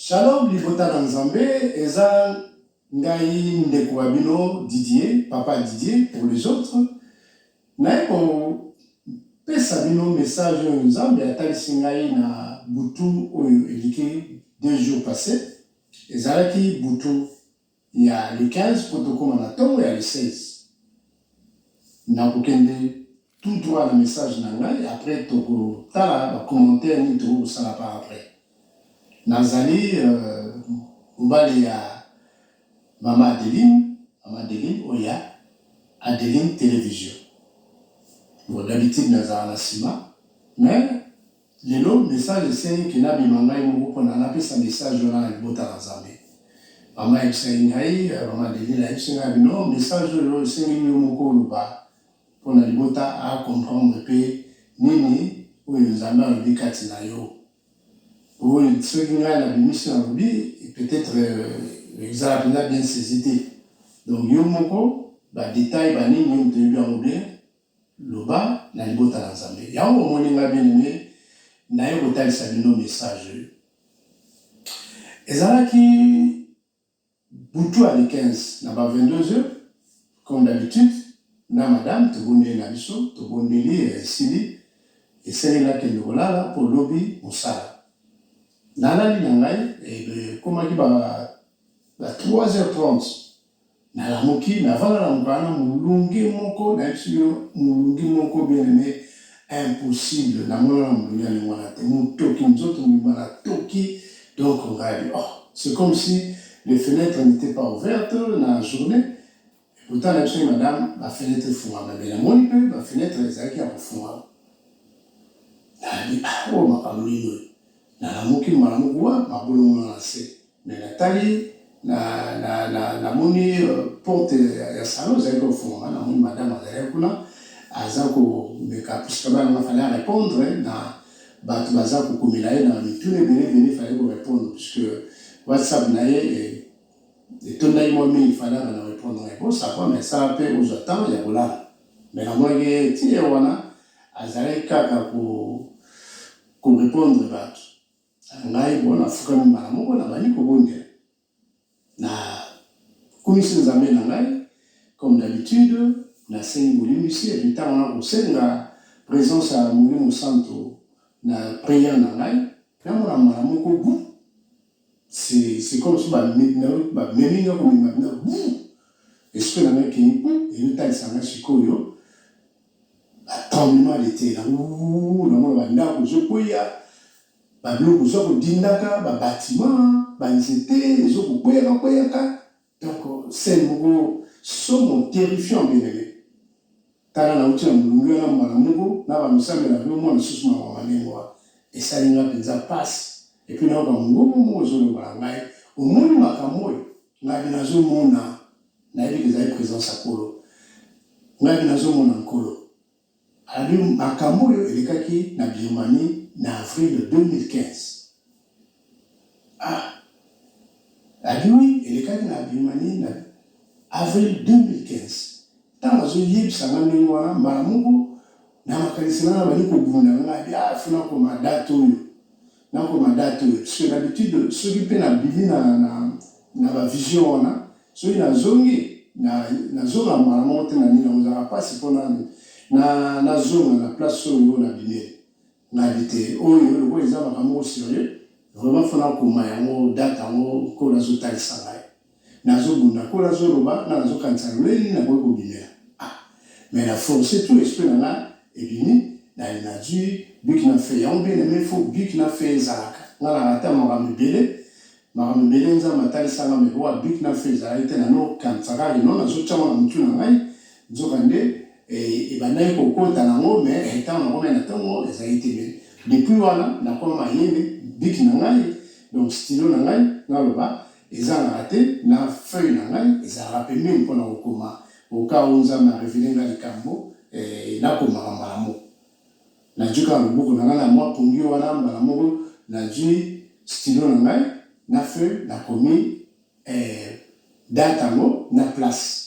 Shalom libota na nzambe eza ngai ndeko wa bino Didier papa Didier pour les autres naye ko pesa bino message oyo nzambe atalisi ngai na butu oyo eliki deux jours passe ezalaki butu ya le 15 mpo tokoma na ntongo ya le 16. Nakokende tout droit na message na ngai après tokotala ba commentaires nini tokoki kosala par après. Nazali mobali ya mama Adeline, mama Adeline oyo ya Adeline Television. Bon, d'habitude nazalaka na sima mais Lelo, message esengi que nabima ngai moko po na napesa message wana na libota na Nzambe. Mama ayebisaki ngai, mama Delila ayebisi ngai abi non, message oyo lelo esengeli yo moko oloba po na libota a comprendre pe nini oyo Nzambe alobi kati na yo. Po soki ngai nabimisi nalobi, peut etre ezala penza bien saisi te. Donc yo moko ba details ba nini oyo toyebi yango bien, Loba na libota na Nzambe. Yango omoni nga bien aime naye kotalisa bino message oyo. Ezalaki butu ya le 15 na ba 22 heures comme d'habitude na madame tobondeli na biso tobondeli esili esengeli nakende kolala mpo lobi mosala nalali na ngai ekomaki ba 3h30 Nalamuki navanda na mukana mulunge moko nayebisi bino mulunge moko bien aime impossible namonaka mulunge ya ndenge wana te mutoki nzoto mobimba na toki donc ngayi oh c'est comme si les fenetres n'etait pas ouverte na journee et pourtant nayebisaki madame ba fenetres efungwama mais namoni pe ba fenetres ezalaki ya kofungwama nalobi ah oyo makambo nini oyo nalamuki malamuki wa mabolongono na se Mais na tali na na na na moni euh, porte ya salon ezali ko fongama na moni madame azali kuna aza ko meka puisque ba na fallait répondre na bato baza ko komela ye na mituna ebele ebele fallait ko répondre puisque WhatsApp na ye eh, etondaki mwa mingi fallait na répondre mais bon ça va mais ça pe ozwa temps ya kolala mais na moni ke tiye wana azali kaka ko ko répondre bato na ngai mpo nafukami mbala moko, nabandi kobondela, nakumisi Nzambe na ngai comme d'habitude, nasengi bolimbisi epuis ntango na kosenga presence ya Molimo Santo na prière na ngai, namona mbala moko bu c'est comme si bamemi nga komema bina bu esprit na ngai ekei bu ezotalisa ngai sikoyo ba tremblement de terre na wuuuu na mona ba ndaku ezo kweya ba biloko ezo ko dindaka ba batiment ba nzete ezo ko kweyaka kweyaka donc scène moko somo terrifiant belele tala na wuti na molunge wana mbala moko na ba misambela pe omona lisusu mawa ma ndenge wana esali nga penza pasi epuis nayoka mungongo moko ezo loba na ngai omoni makambo oyo Ngai pe nazo mona, nayebi ke ezali presence ya Nkolo. Ngai pe nazo mona Nkolo. Alobi, Makambo oyo elekaki na Birmanie na avril 2015. Ah! Alobi, Oui, elekaki na Birmanie na avril 2015. ntango azoyebisa nga ndenge wana mbala moko na makanisi nanga bali kobunda nga ah, fo nakoma date oyo nakoma date oyo parce que d'habitude soki mpe nabimi na, na, na bavision wana soki nazongi nazonga na mbala moko te na nini ozalaka mpasi mpo nani nazonga na place oyo nabimeli nayebi te oyo lokola eza makambo moko serieux vraiment fona akoma yango date yango nkolo azotalisa ngai nazobunda nkolo azoloba nga nazokanisa lolei nini nakoki kobimela ah mais na force tout esprit na nga ebimi na linadui biki na fe yango bien aime fo biki na fe ezalaka nga na rata makambo ebele Makambo ebele Nzambe atalisaka nga mais oa but na fin ezalaki te, nano kanisaka que non nazo tia ngo na mutu na ngai, nzoka nde ebandaki ko kota na ngo mais tango na komaki na tongo ezalaki te mais depuis wana na koma mayele but na ngai donc stylo na ngai naloba ezangaka te na feuille na ngai ezalaka pembeni pona ko koma au cas où Nzambe a reveler nga likambo eh nakomaka mbala moko. Nazwi kaka loboko na ngai na mwa pongi wana, mbala moko nazwi stylo na ngai na feuille, nakomi eh, date yango na place.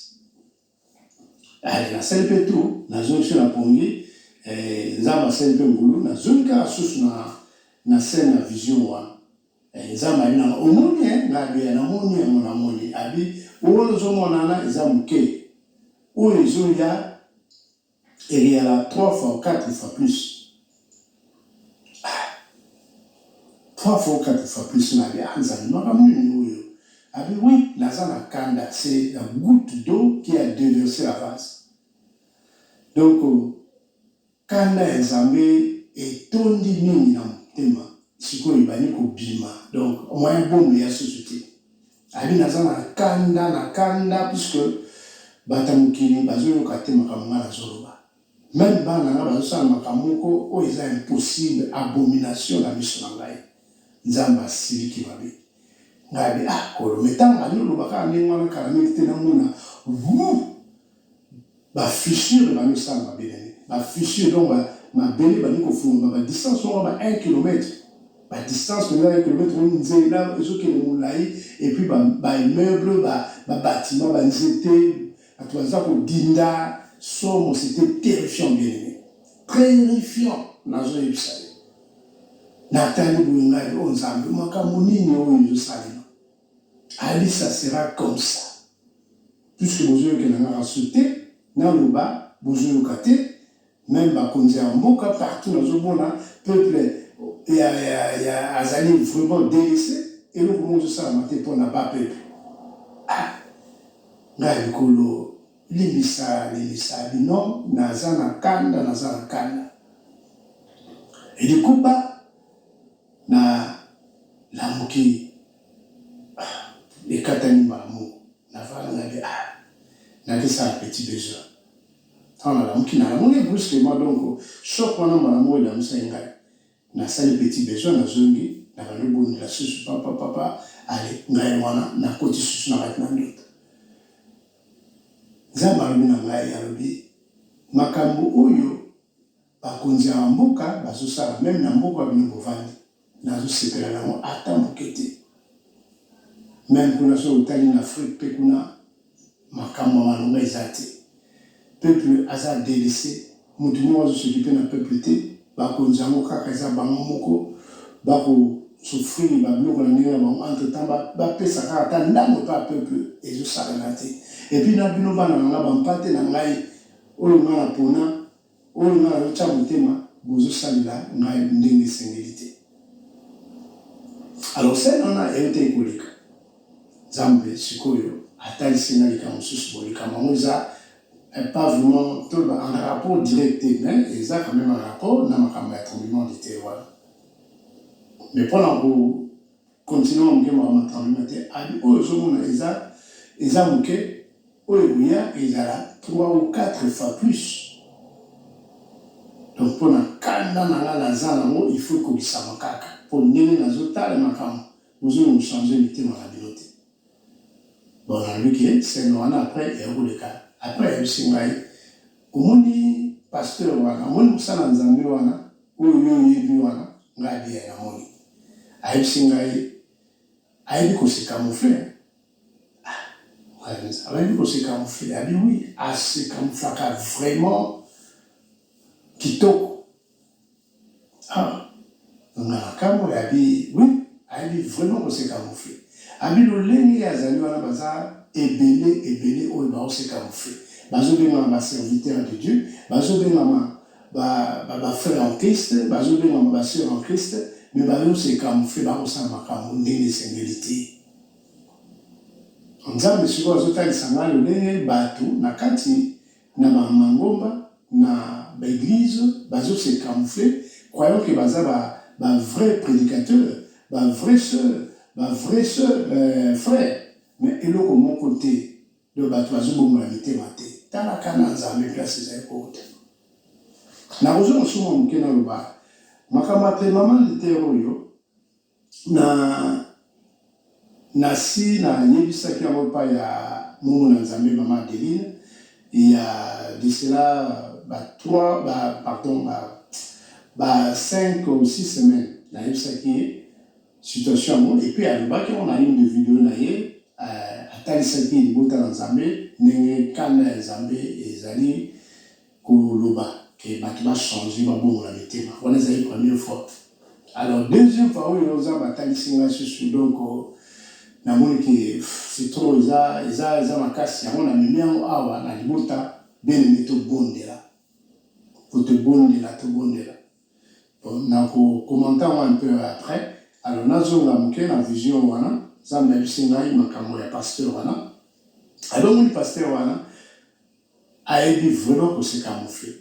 Allez, nasali mpe tour, nazongi biso na pongi eh, Nzambe asali mpe ngulu, nazongi kaka susu na, na scène na vision wana. Eh, Nzambe ali na omoni eh, ngai abeya namoni yango, namoni abi oyo ozomona wana eza moke, oyo ezoya Eliala trois fois quatre fois plus ah trois fois quatre fois plus na ya nzali makambo nini oyo abi oui naza na kanda c'est la goutte d'eau qui a déversé la vase donc kanda ya nzambe etondi mingi na motema sikoyo ebandi kobima donc moyen bombe ya susu te Abi naza na kanda na kanda puisque bata mokili bazoyoka te makambo nga nazoloba meme bana nga bazosala makambo moko oyo eza impossible abomination na miso na ngai nzambe asiliki mabe ngai abi ah kolo me ntango ali oloba kaka ndenge wana kala mingi te namona vu ba fissures ebandi kosala mabele, ba fissures donc ba mabele ebandi kofulama ba distance moko ya ba un kilomètre, ba distance penza ya un kilomètre donc nzela ezokende molayi et puis ba ba immeubles, ba ba batiments, ba nzete, batu baza kodinda, somo c'etait terrifiant bien aime, terrifiant nazoyebisa yo, natali boye ngai oh Nzambe makambo nini oyo ezosalema. Allez ça sera comme ça puisque bozo yokela nga rasoul te naloba bozo yoka te meme ba konzi ya mboka partout nazo mona peuple ya ya ya azali vraiment delaisse eloko moko ezo salama te pona ba peuple ah nga likolo limbisa limbisa bino naza na kanda naza na kanda elikuba Na lamuki ah ekatani mbala moko na vanda nga de ah nake sala petit besoin tango na lamuki na lamuki brusquement donc choc wana mbala moko elamusaki nga na sali petit besoin na zongi na bandi kobondela susu papa papa ale ngai wana na koti susu na kati na ndoto nzambe alobi na ngai alobi makambu oyo Bakonzi ya ba mboka bazo sala meme na mboka bino bovandi nazo sepela nango ata muke te meme kuna soki otali na Afrique pe kuna makambu ya malonga eza te peuple aza delaisse mutu moko azo sokipe na peuple te bakonzi yango kaka eza bango moko bako souffrir ba biloko na ndenge na bango entre temps ba ba pesa kaka ata ndambu epa ya peuple ezo sakana te epuis na bino bana na nga ba mpate na ngai oyo nga na pona Oyo ngai nazo tia motema bozo salela ngai ndenge esengeli te alors scène wana ewutaki koleka nzambe sikoyo atalisi ngai likambo mosusu boye likambo yango eza eh, pas vraiment toloba en rapport direct te mais eza quand même en rapport na makambo ya tremblement de terre wana mais mpo na ko Continent muke mawa ma tremblement te abi oyo ozo mona eza eza muke oyo ekoya ezala trois ou quatre fois plus donc pona kanda na nga naza na ngo il faut ekokisama kaka po ndenge nazo tala makambu bozo nanu changer mitema na bino te. Bon nalobi ke scène wana après eya koleka après ayebisi ngai omoni pasteur wana omoni mosali ya nzambe wana oyo yo oyebi wana ngai de ya namoni ayebisi ngai ayebi ko se camoufle hein ah ngai penza ayebi ko se camoufle abi oui a se camouflaka vraiment kitoko Ah nga na kamue abi oui ayebi vraiment ko se camoufle abi lolenge azali wana baza ebele ebele oyo bao se camoufle bazo bengama ba serviteur de Dieu bazo bengama ba ba frère en Christ bazo bengama ba sœur en Christ mais bazo se camoufle bako sala makambo ndenge esengeli te nzambe sikoyo azo talisa nga lolenge batu na kati na ba mangomba na ba eglise bazo se camoufle croyant que baza ba ba vrai predicateur ba vrai soeur ba vrai soeur euh frère mais eloko moko te donc batu bazo bongola mitema te tala cas na nzambe place ezali kowuta nakozonga sous mua muke naloba makambo ya tremblement de terre oyo Na, nasi na yebisaki yango epai ya moumou na Nzambe, Mama Adeline, il ya de cela ba trois, ba, pardon, ba, ba cinq ou six semaines, na yebisaki ye situation yango, et puis alobaki yango na une de video na ye, eh, atalisaki libota na Nzambe, ndenge kanda ya Nzambe ezali. Ko loba que batu ba changer, ba bongola mitema, wana ezali première fois. Alors deuxième fois oyo Nzambe a talisi ngai lisusu donc na moni que c'est trop, eza, eza, eza makasi, yango na memi yango awa na libota. Bien aime to bondela, ko to bondela, to bondela. Bon, na ko commenta yango un peu après. Alors na zonga muke na vision wana, Nzambe a yebisi ngai makambo ya pasteur wana. Alongoli pasteur wana. Ayebi vraiment ko se camoufler.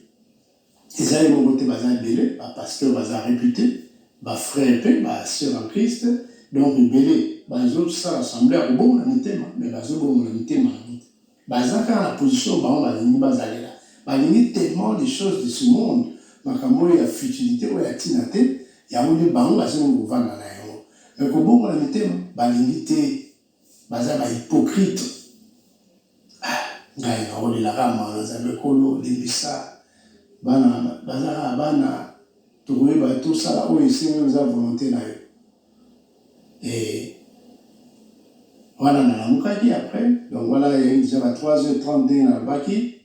Eza ye moko te baza ebele ba pasteurs baza repute, ba frères pe ba sœurs en Christ donc ebele bazo sala semblant ya ko bongola mitema mais bazo bongola mitema yango te. Baza kaka na position oyo bango balingi bazalela. Balingi tellement les choses de ce monde, makambo oyo ya futilite oyo ya tina te, yango nde bango basengi kovanda na yango mais ko bongola mitema balingi te. Baza ba hypocrite ah ngai na olela ka mawa nzambe kolo limbisa bana baza ka bana tokoyeba to sala oyo esengo eza volonte na yo eh wana na lamukaki après donc wana ya deja ba 3h30 ndenge na lobaki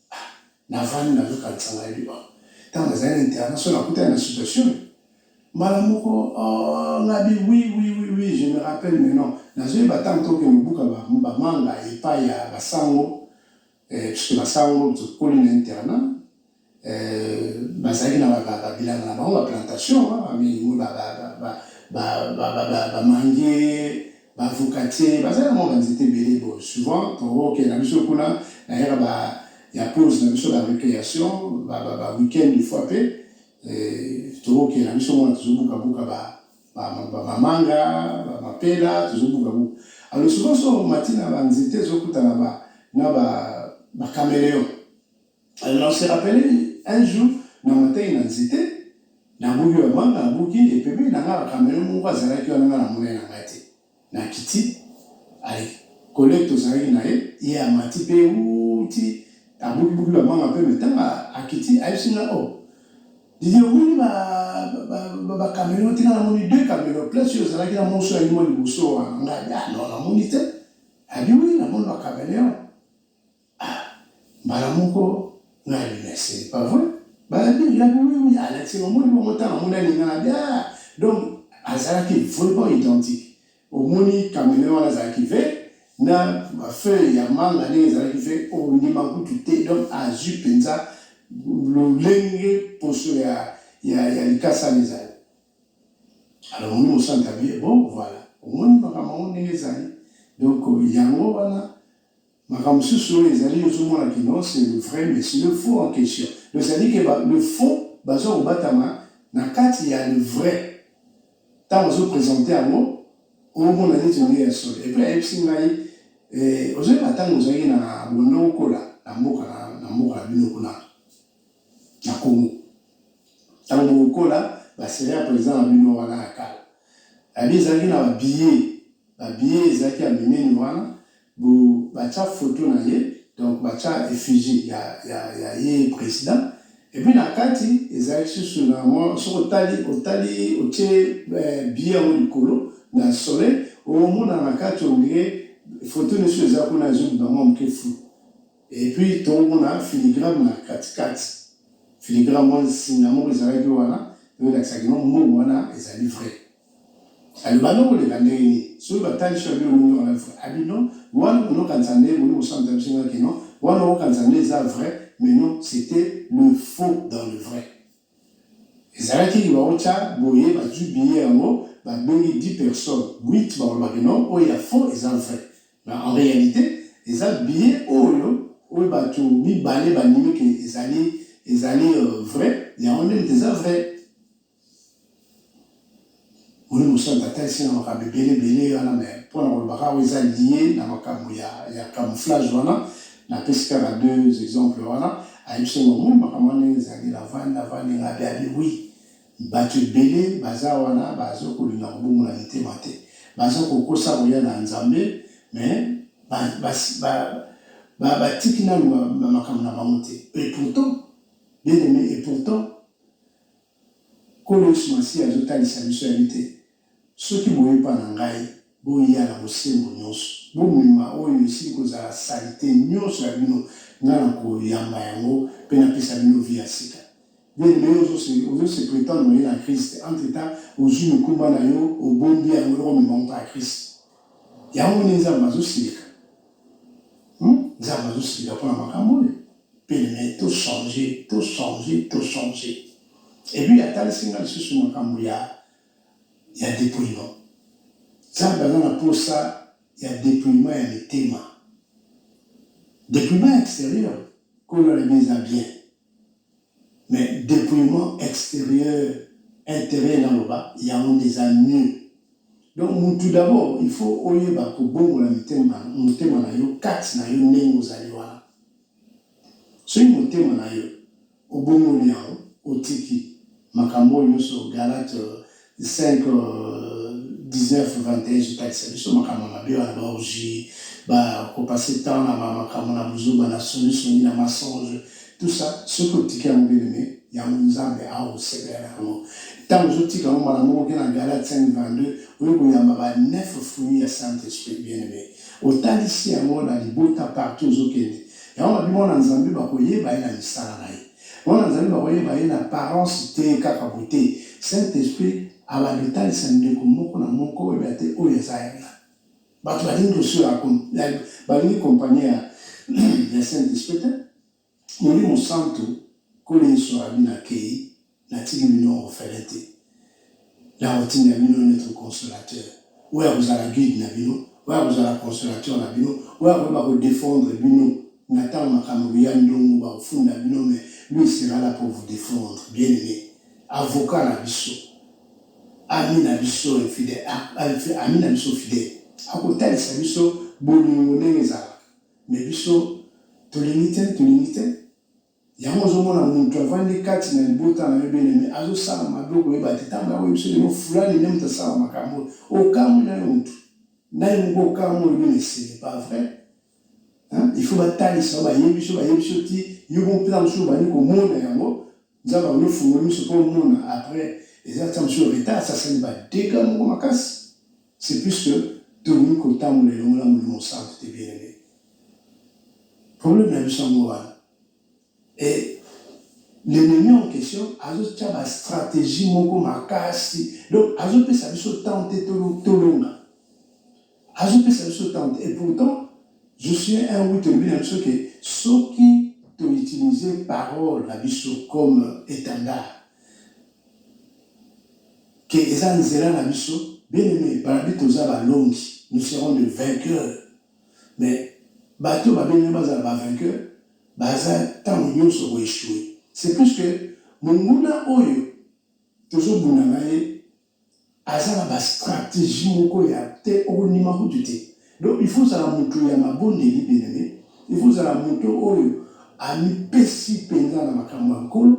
navandi nazokanisa ngai liwa ntango nazali na interna so nakutani na situation mbala moko oh, ngabi wi wi wi wi je me rappelle mais non nazoyeba ntango toke mobuka bamanga epai ya basango eh, puisque basango tokoli na interna eh, bazalaki na babilanga na bango baplantation bamange ba avocatier baza na mwa banzete ebele bo souvent tokokende na biso kuna na era ba ya pause na biso ba recreation ba, ba, ba week-end de fois mpe eh, tokokende na biso mona tozobukabuka ba, ba, ba, ba manga ba mapela tozobukabuka alors souvent so mati na banzete ezokutana ba, na ba, ba cameleon Alors na se rappeler un jour na mataki na nzete na buki ba manga na buki et pembeni na nga ba kamelo moko azalaki wana nga na mona na nga te na kiti allez collègue tozalaki na ye ye amati pe uti abuki buki ba manga pe mais tanga akiti ayebisi nga oh Didi omoni ba ba ba, ba kamelo tika na moni deux kamelo place yo ozalaki na moso ya limo liboso wana nga ah non na moni te abi oui na moni ba kamelo Ah mbala moko nga ya binese pas vrai balabi ya biwemi alati omoni bongo tanga mona ningana bia donc azalaki vraiment identique omoni kamene wana azalaki ve na feuille ya manga ndenge ezalaki ve ondima kutu te donc azwi mpenza lolenge poso ya, ya, ya likasa wana ezali alors omoni mosantu abi bon voilà omoni makambo yango ndenge ezali donc yango wana Makambo mosusu oyo ezali ozo mona que non c'est le vrai mais c'est le faux en question donc ça dit que ba le faux bazo ko batama na kati ya le vrai tango azo presenter yango omona neti nde ya solo et puis ayebisi ngai eh ozo yeba tango ozalaki na bondo okola na mboka na mboka na bino kuna na Congo. Tango bokola ba serie president na bino wana ya kala abi ezalaki na ba billet ba billet ezalaki ya minene wana bo batia photo na ye donc batia effigie ya ya ya ye president et puis na kati ezalaki susu na mwa soki otali otali otie billet yango likolo na soleil omona na kati ondire photo nioso eza kuna ezobima mwa moke flou. Et puis tomona filigrame na kati kati, filigrame mwa nsinga moko ezalaki wana po elakisa que non mbongo wana ezali vrai. Alors banda koleka ndenge nini? Soki batalisi yo babi omonaki wana vrai? Abi non wana bono kanisa nde bolingi kosambisa biso nga que non wana okokanisa nde eza vrai mais non c'etait le faux dans le vrai. Ezalaki liwa o ca boye bazui billet yango ba bengi 10 personnes, 8 bakoloba ke non oyo ya faux eza vrai mais en realite eza billet oyo oyo batu mibale bandimi ke ezali ezali vrai yango nde mutu eza vrai. Moyen Mosantu atalisi nga makambo ebele ebele wana mais mpo na koloba kaka oyo eza lie na makambo ya ya camouflage wana napesi kaka deux exemples wana ayebisi nga omoni makambo wana ndenge ezali navandi navandi nga abi abi oui bato ebele baza wana bazo kolinga kobongola mitema te baza kokosa koya na Nzambe mais ba, ba, ba, ba, batiki nanu makambo na bango te et pourtant bien aimé et pourtant Nkolo Yesu Masiya azo talisa biso ya ete, Soki boye epa na ngai, boya na bosembo nionso, bomema oyo esili kozala salite nionso ya bino, ngai na ko yamba yango pe na pesa bino vie ya sika. Bien aime, yo ozo se, ozo se pretendre oye na Christ, entre temps ozui mikumba na yo, obombi yango, oko mema yango epa ya Christ. Yango nde Nzambe azo silika. Hum, Nzambe azo silika pona makambo oyo. Pene naye to change to change to change et puis atalisi nga lisusu makambu ya ya depouillement nzambe aza na posa ya depouillement ya mitema depouillement exterieur kolo alobi eza bien mais depouillement exterieur interieur na loba yango nde eza mieux donc mutu d'abord il faut oyeba kobongola mitema motema na yo kati na yo ndenge ozali wana Soki motema na yo obongoli yango, otiki makambo oyo nyonso Galates 5, 19, 21 ezotalisa biso, makambo ya mabe wana, ba orgies, ba ko passer temps na ba makambo na buzoba, na soni soni, na mensonge, tout ça, soki otiki yango bien aime, yango Nzambe ako sepela na yango. Tango ozo tika yango, mbala moko oke na Galates 5, 22, oye koyamba ba neuf fruits ya Saint Esprit, bien aime. Otalisi yango na libota partout ozokende. Yango babi mwana na nzambe bako yeba ye na misala na ye. Mwana na nzambe bako yeba ye na apparence te kaka boye te. Saint esprit abanda otalisa ndeko moko na moko oyeba te oyo aza ya nani. Batu balingi dossier oyo ya balingi compagnie ya saint esprit te. Molimo santu nkolo yesu alobi na keyi na tiki bino orphelin te nako tinda bino notre consolateur oyo ako zala guide na bino oyo ako zala consolateur na bino oyo ako yeba ko defendre bino na tango makambo ekoya ndongo bako funda bino mais lui il sera la pour vous defendre bien aime avocat na biso ami na biso infidèle ami na biso fidèle ako talisa biso bolingo ndenge ezalaka Mais biso tolingi te tolingi te yango ozomona mutu avandi kati na libota na yo bien aime azosala mabe okoyeba te ntango yango yebiso lelo fulani nde mutu asala makambo oyo okamwi na yo mutu naye moko okamwi oyebi na esele pas vrai il faut batalisa bayebi so bayebi so ti yo moko mpenza mosusu obandi komona yango nzambe abandi ofungoli miso mpo omona après eza ntango mosusu retard sasali badega moko makasi C'est plus que toni kotambola elongo na molimo santu te bien aime problème na biso yango wana et l'ennemi en question azotya ba stratégie moko makasi donc azopesa biso temps te tolonga azopesa biso temps te et pourtant je suis un oui tolobi na biso ke soki toutilize parole na biso comme étendard que eza nzela na biso bien aime balobi toza balongi nous serons de vainqueur mais bato ba bien aime bazala ba vainqueur baza tango nionso ko echoue c'est plus que monguna oyo tozo bunda na ye Aza na ba strategie moko ya te oko ndima kutu te donc il faut ozala mutu ya mabondeli bien aime il faut ozala mutu oyo ami pesi penza na makambo ya nkolo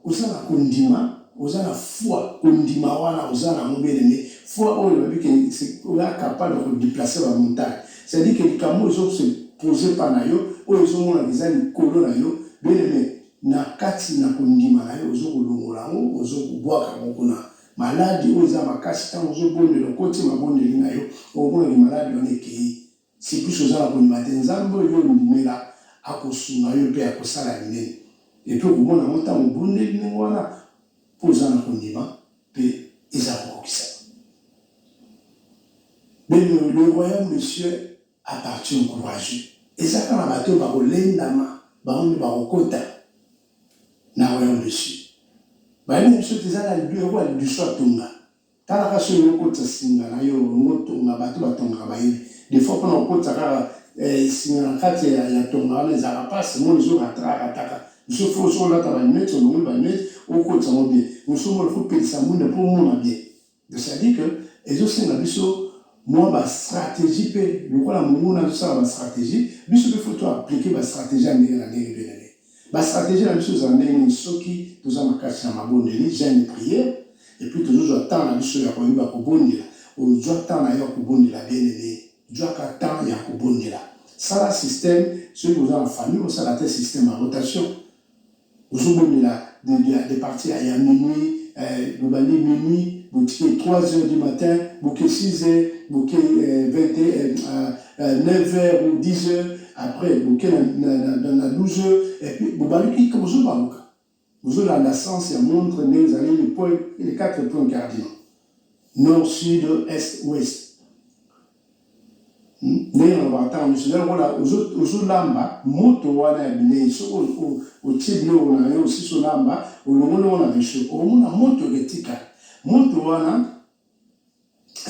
oza na ko ndima oza na foi ko ndima wana oza na yango bien aime foi oyo elobi ke oza capable ya ko deplacer ba montagne c'est à dire ke likambo oyo ezo se poser epa na yo oyo ezo monana eza likolo na yo bien aime Na kati na kondima na yo ozo kolongola yango, ozo kobwaka yango kuna. Maladi oyo eza makasi, tango ozo bondela, okoti mabondeli na yo, okomona ke maladi wana ekeyi. C'est puisque oza na kondima te. Nzambe oyo yo ondimela, akosunga yo pe akosala minene. Et puis okomona yango tango obondeli ndenge wana, po oza na kondima pe eza kokokisama. Bino, le royaume de cieux. A partir encouragee eza kaka batu oyo bako lendama bango nde bako kota na royaume de Dieu bayebi biso te eza na lieu oyo lidusu atonga tala kaka soki olingi okotisa singa nayo olingi otonga batu ba tongaka bayebi de fois pona kokotisa kaka singa na kati ya tonga wana ezalaka pasi moi ezo ratra rataka biso faut soki olata ba lunette olongoli ba lunette okotisa ngo bien mosusu moi faut pelisa mwinda po omona bien Donc ça dit que ezosenga biso mwa ba stratégie mpe lokola monguna azosala ba stratégie biso mpe fo to aplike ba stratégie ya ndenge na ndenge mpe na ndenge ba stratégie na biso ezala ndenge nini soki toza makasi na mabondeli jeune prière epuis tozozwa temps na biso ya koyeba kobondela ozwa temps na yo ya kobondela bienene zwaka temps ya kobondela sala système soki oza na famille osala te système ya rotation Ozo bomela de partie ya ya minuit eh bobandi minuit botiki ye trois heures du matin boke six heures boke vingt et un neuf heures ou dix heures après boke na na douze heures et puis bobaluki bozo baluka bozo landa sens ya montre nde ezali le point les quatre points cardinaux nord sud est ouest ndenge nalobaka ntango nyonso, nde lokola ozolamba moto wana ya bilei, soki otie biloko na yo osisi olamba, olongoli yango na rechaud, okomona moto etika. Moto wana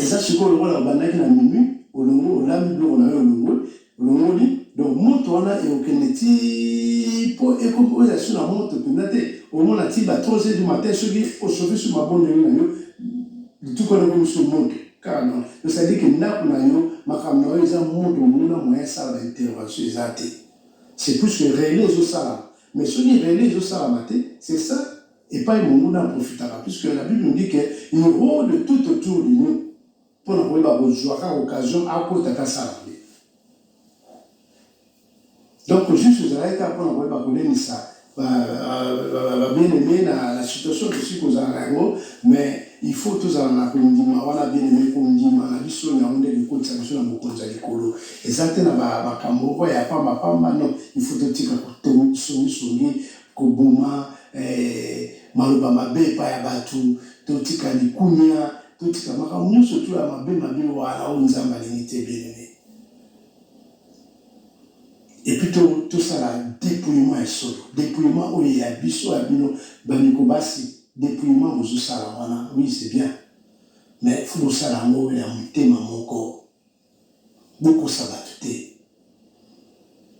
eza sikoyo lokola obandaki na minuit, olongoli, olambi biloko na yo, olongoli, Olongoli donc moto wana et okende ti po eko oyo ya suna moto penza te omona ti ba trois heures du matin soki o chauffe sur mabondeli na yo lituka wana ekomi sur moto kaka non donc ça dit que ndaku na yo makambo na yo eza moto omona moyen asala ba intervention eza te c'est plus que relais ezo salama mais soki relais ezo salama te c'est ça epayi monguna a profitaka puisque la bible nous dit que il rode tout autour de nous Mpo na koyeba kozwa kaka occasion akota ata asala mabe. Donc juste ozalaki kaka mpo na koyeba kolendisa ba bien aime na la situation tosili kozala na yango mais il faut tozala na kondima wana bien aime kondima na biso yango nde ekokotisa biso na bokonzi ya likolo eza te na makambo moko ya pamba pamba non il faut totika songisongi koboma eh, maloba mabe epai ya bato totika likunia Kotika makambo nyonso to ya mabe mabe wana oyo Nzambe alingi te bien-aime. Et puis to tosala dépouillement ya solo, dépouillement oyo ya biso ya bino bandeko basi, dépouillement bozosala wana oui c'est bien mais faut bosala yango ya motema moko bokosa batu te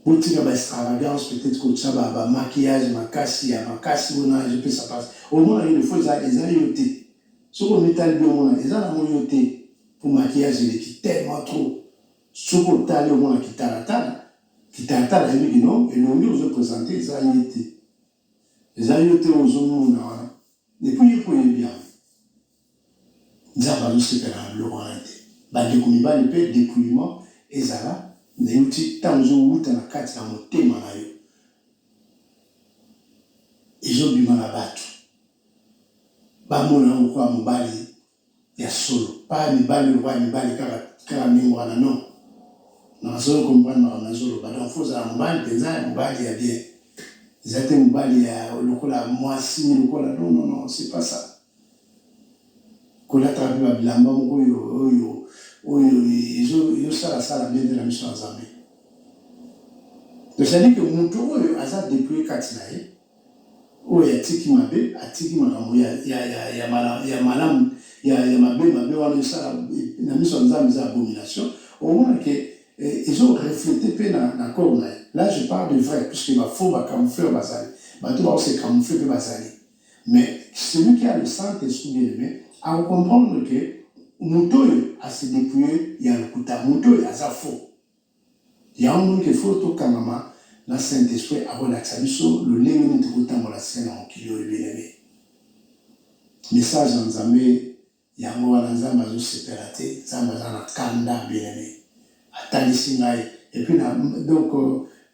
botika ba extravagance peut-être kotia ba ba maquillage makasi ya makasi wana ezopesa pasi omona yo defo eza eza yo te soki omitali bi omona eza nango yo te po maquillage eleki tellement trop soki otali omona kitalatala kitalatala yebi kino elongi ozo presente eza ye te eza yo te ozomona wana epuis ye po oyebi yango Nzambe azo sepela na biloko wana te ba ndeko mibali pe depouillement ezala mais euti tango ezo wuta na kati ya motema na yo ezo bima na batu ba mona yo lokola mobali ya solo pas mibali oyo lokola mibali kaka kaka ndenge wana non na solo comprendre makambo nazo loba donc faut ozala mobali penza ya mobali ya bien eza te mobali ya lokola mwasi lokola non non non c'est pas ça Kolata pe ba bilamba moko oyo oyo oyo ezo ezo sala sala bien te na miso ya Nzambe. Donc c'est à dire que mutu oyo aza depouille kati na ye, oyo atiki mabe atiki makambo ya ya ya ya mala ya malamu ya ya mabe mabe wana ezo sala na miso ya Nzambe eza abomination. Omona ke ezo refleter pe na na corps na ye. Là je parle de vrai puisque ba faux ba camoufleurs bazali, bato bao se camoufler pe bazali. Mais celui qui a le saint esprit bien aime ako comprendre que moto oyo a se depouiller ya lokuta moto oyo aza faux yango omoni que faut tokangama na saint esprit akolakisa biso lolenge nini tokotambola se na mokili oyo bien aime message ya nzambe Yango wana nzambe azo sepela te nzambe aza na kanda bien aime atalisi ngai et puis na donc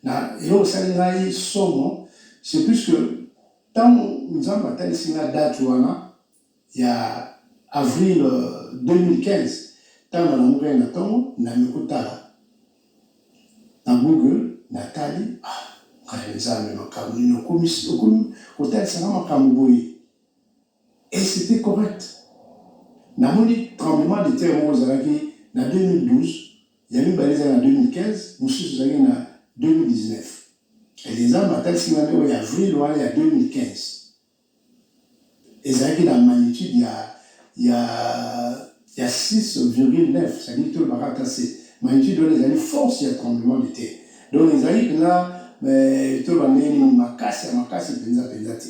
na eloko esali ngai somo c'est plus que tango nzambe atalisi ngai date wana ya avril 2015 tango nalamukaki na tongo nami kotala na google na tali ah ngai nzambe makambo nini okomi okomi kotalisa ngai makambo boye Et c'etait correct. Namoni tremblement de terre moko ezalaki na 2012, ya mibale ezalaki na 2015, mosusu ezalaki na 2019. Et Nzambe atalisi ngai nde oyo ya avril wana ya 2015. Ezalaki na magnitude ya, ya, ya 6,9, c'est à dire tolobaka ata se. Magnitude wana ezali force ya tremblement de terre. Donc ezali mpenza, eh, toloba ndenge nini, makasi ya makasi mpenza mpenza te.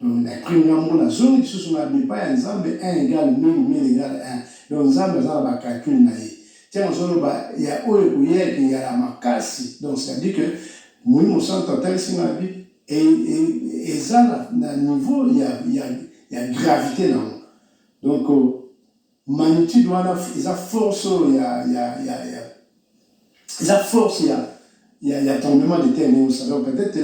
Donc na prime na mbo na zongi lisusu na bepa ya Nzambe 1 égale 1000 1000 égale 1 donc Nzambe aza na ba calcul na ye tiens ozo loba ya oyo ekoya eke ya la makasi donc c'est à dire que molimo santu atalisi nga na bi eza na niveau ya ya ya gravite na yango donc Magnitude wana eza force oyo ya, ya, ya, ya eza force ya, ya, ya tremblement de terre ndenge osala peut-être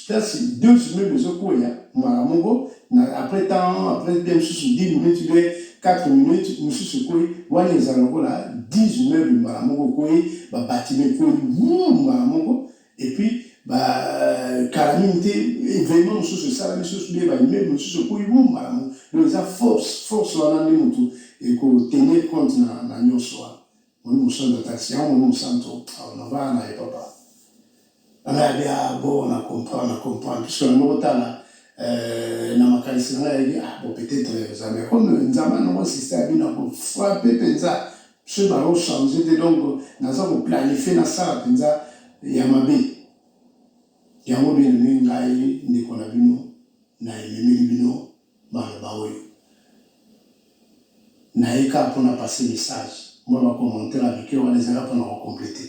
place deux immeubles ezokweya mbala moko na après temps après bien mosusu 10 minutes bien 4 minutes mosusu ekweyi wana eza lokola 10 immeubles mbala moko ekweyi babatiment ekweyi mbala moko Et puis, ba kala mingi te événement mosusu esalami susu nde baimmeuble mosusu ekoyi boum malamu donc eza force force wana nde motu ekotenir compte na, na nyonso wana moni mosanto atalisi yango moni mosanto aonavaa na ye papa anayabi abo na comprendre na comprendre puisque na moko tala euh, na makanisi na ngai yayebi ah bon peut-être eza mais comme nzambe anoko insiste abi na kofrape mpenza Soki ba ko changer te donc naza ko planifier na sala penza ya mabe. Yango bien aime ngai ndeko na bino na ememeli bino maloba oyo. Naye kaka pona passer message. Mua ba commentaires ya mike wana ezali kaka pona ko completer.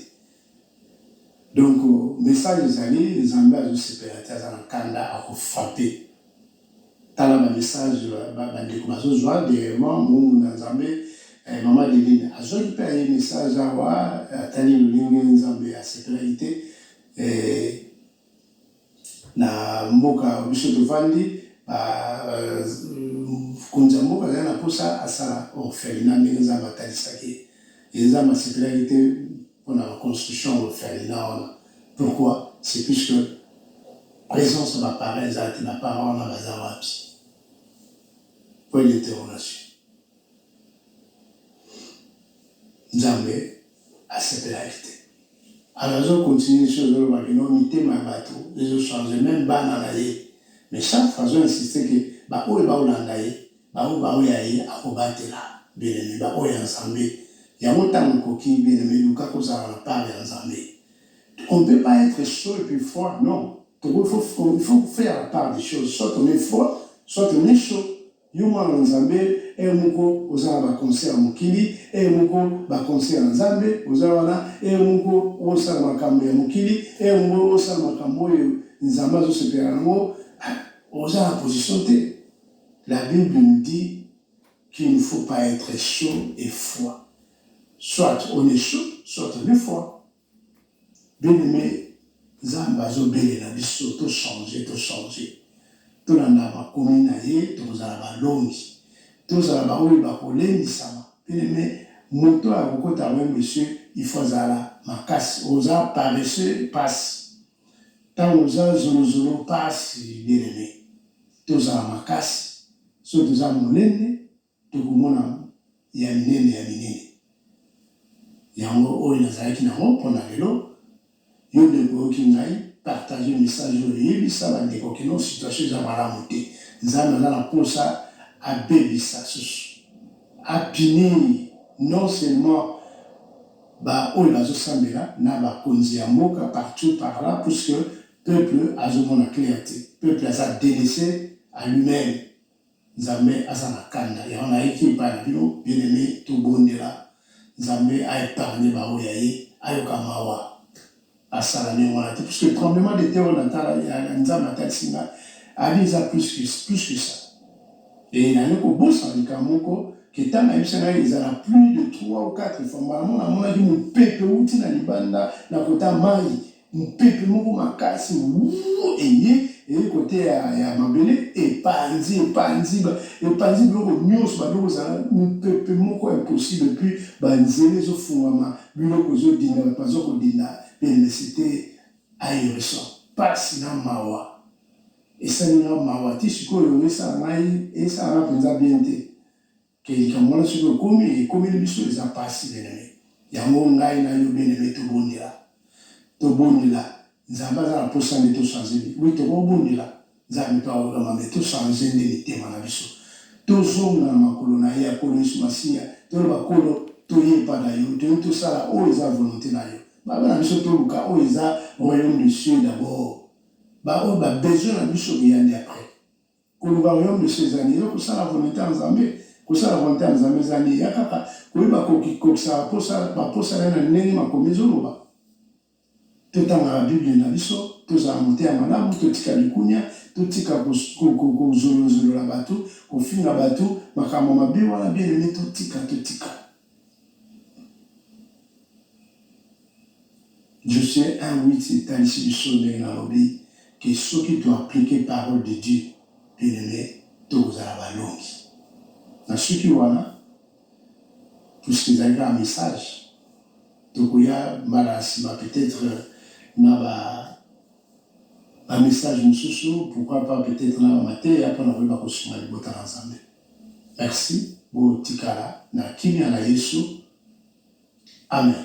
Donc message ezali nzambe azo sepela te aza na kanda ako frappe tala ba message ba ndeko bazo zwa derrièrement mungu na nzambe eh, mama Deline azwaki mpe aye message awa atali lolenge nzambe asepelaki te eh, Na mboka biso tovandi ba mokonzi ya mboka azali na posa asala orphelinat ndenge Nzambe atalisaki ye et Nzambe asepelaki te pona ba construction ya orphelinat wana pourquoi c'est puisque presence ya ba parents eza te ba parents wana baza wapi? Point d'interrogation. Nzambe asepelaki te. Alors azo continuer lisusu azo loba que non mitema ya batu ezo changer meme bana na ye mais chaque fois azo insister que ba oyo bao landa ye ba oyo bao ya ye ako batela bien aime ba oyo ya Nzambe yango tango ekoki bien aime luka ko zala na part ya Nzambe on ne peut pas etre chaud et puis froid non toko il faut faire la part des choses soit on est froid soit on est chaud Yo mwana na nzambe heure moko oza na ba concert ya mokili heure moko ba concert ya nzambe oza wana heure moko osala makambu ya mokili heure moko osala makambu oyo nzambe azo sepela na ngo ah oza na position te la bible nous dit qu'il ne faut pas etre chaud et froid soit on est chaud soit on est froid Bien aime nzambe azo belela biso to change to change tolanda makomi naye tokozala balongi tozala baoyo bakolendisama bien aime moto oyo akokota yango monsieur il faut azala makasi oza paresseux pasi tango oza zolozolo pasi bien aime tozala makasi soki toza munene Tokomona ya minene ya minene. Yango oyo nazalaki na ngo pona lelo. Yo ndeko oyoki ngai, partager message oyo, yebisa ba ndeko que non situation eza malamu te. Nzambe aza na posa abebisa susu, a punir non seulement ba oyo bazo sambela na ba konzi ya mboka partout par là puisque peuple azo mona clair te. Peuple aza delaisser à lui meme. Nzambe aza na kanda yango na yaki epai na bino bien aime to bondela nzambe a epargne ba oyo ya ye ayoka mawa asala ndenge wana te puisque tremblement de terre oyo na tala ya nzambe atalisi nga abi eza plus que plus que ça et na ye ko bosana likambo moko ke tanga yebisa nga ezala plus de 3 ou 4 fois mbala moko na monaki mopepe uti na libanda na kota mayi Mopepe moko makasi wuu eye eye kote ya, ya mabele epanzi epanzi ba epanzi biloko nionso ba biloko ezala mopepe moko impossible puis ba nzela ezo fungwama biloko ezo dinda batu bazo ko dinda universite ahirison pasi na mawa esali nga mawa ti sikoyo esala ngai esala nga penza bien te. Que likambo wana soki ekomi ekomeli biso eza pasi bien aime yango ngai na yo bien aime tobondela tobondela nzambe aza na posa nde to change nini oui tokobondela nzambe pe akoyoka mambe to change nde mitema na biso tozonga na makolo na ye akolo yesu masiya toloba kolo toye epa na yo toye tosala oyo eza volonte na yo baba na biso toluka oyo eza royaume de cieux d'abord baoyo babesoin na biso boya nde après Koluka royaume de chez ezali yo kosala volonte ya Nzambe. Kosala volonte ya Nzambe ezali ya kaka koyeba kokikokisa baposa baposa na ye na ndenge makomi ezoloba. Totangaka Bible na biso, tozala mote ya malamu, totika likunia, totika kozolozolola bato, kofinga bato, makambo mabe wana bien aime totika, totika. Je sais un huit etalisi biso ndenge nalobi que soki to appliquer parole de Dieu bien aime tokozala balongi. Nasuki wana puisque ezali kaka message, tokoya mbala ya nsima peut-être na ba ba message mosusu pourquoi pas peut-être na ba mateya mpo na koyeba kosunga libota na Nzambe. Merci botikala na kimia na yesu amen.